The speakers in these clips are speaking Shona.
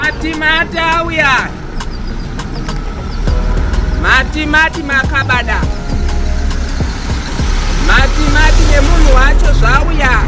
Mati mati auya. Mati mati makabada. Mati mati nemunhu wacho zvauya.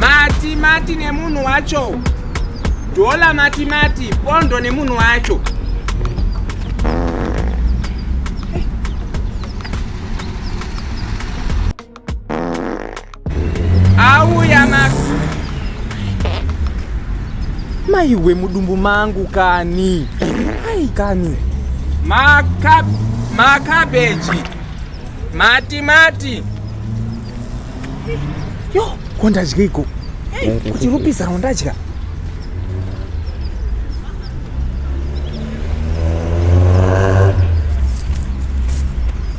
Mati mati nemunhu wacho. Dola mati mati pondo nemunhu wacho. auya masi maiwe mudumbu mangu kani ai kani makabeji matimati yo ko ndadya iko kuti rupisa rondadya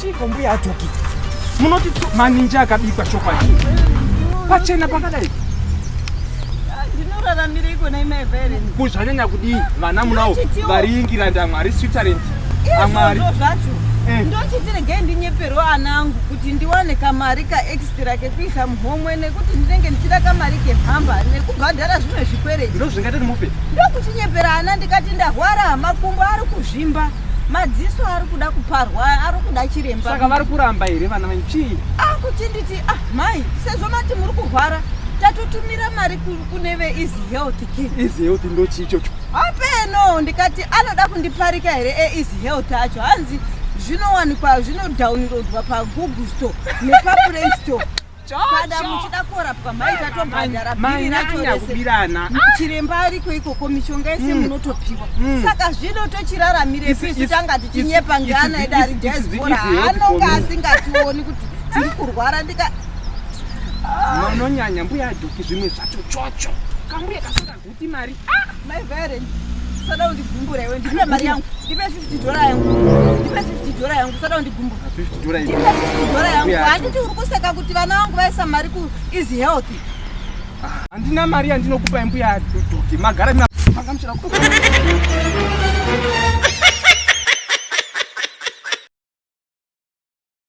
Chiko mbuya atoki. Munoti maninji akabikwa chokwadi. Pachena pakadai. Ndinoraramira iko na imai Valen. Kuzvanyanya kudii vana munawo variingira ndamwari Switzerland. Amwari. Ndochitiregei ndinyeperwa ana angu kuti ndiwane kamari ka Kira kekuisa muhomwe nekuti ndinenge ndichida kamari kepamba nekubhadhara zvimwe zvikwereti. Ndozvingati ndimupe? Ndokuchinyepera ana ndikati ndahwara makumbo ari kuzvimba. Madziso ari kuda kuparwa ari kuda chiremba. Saka vari kuramba here vana vanyu chii? Ah kuchinditi ah mai sezvo mati muri kurwara tatotumira mari kune ve easy health ki. Easy health ndochii chocho? Hapeno ndikati anoda kundiparika here e easy health acho hanzi zvinowanikwa zvinodownloadwa pagoogle store nepaplaystore kana muchida kurapwa maitatobhadhara bhiri ratorese chiremba ariko ikoko mishonga yese mm. munotopiwa mm. saka zvino tochiraramire pisu tanga tichinyepa ngeana edu ari diaspora anonga asingationi kuti tiri kurwara ndika ah. manonyanya mbuya aduki zvimwe zvacho chocho kambuya kasaka Imari. Ah, my parent. Sada undigumbura iwe. Ndipe mari yangu. Ndipe 50 dollar yangu. Ndipe 50 dollar yangu. Sada undigumbura. 50 dollar yangu. Ndipe 50 dollar yangu. Handiti uri kuseka kuti vana vangu vaisa mari ku is healthy. Ah, handina mari yandinokupa mbuya doki. Magara mina. Makamshira ku.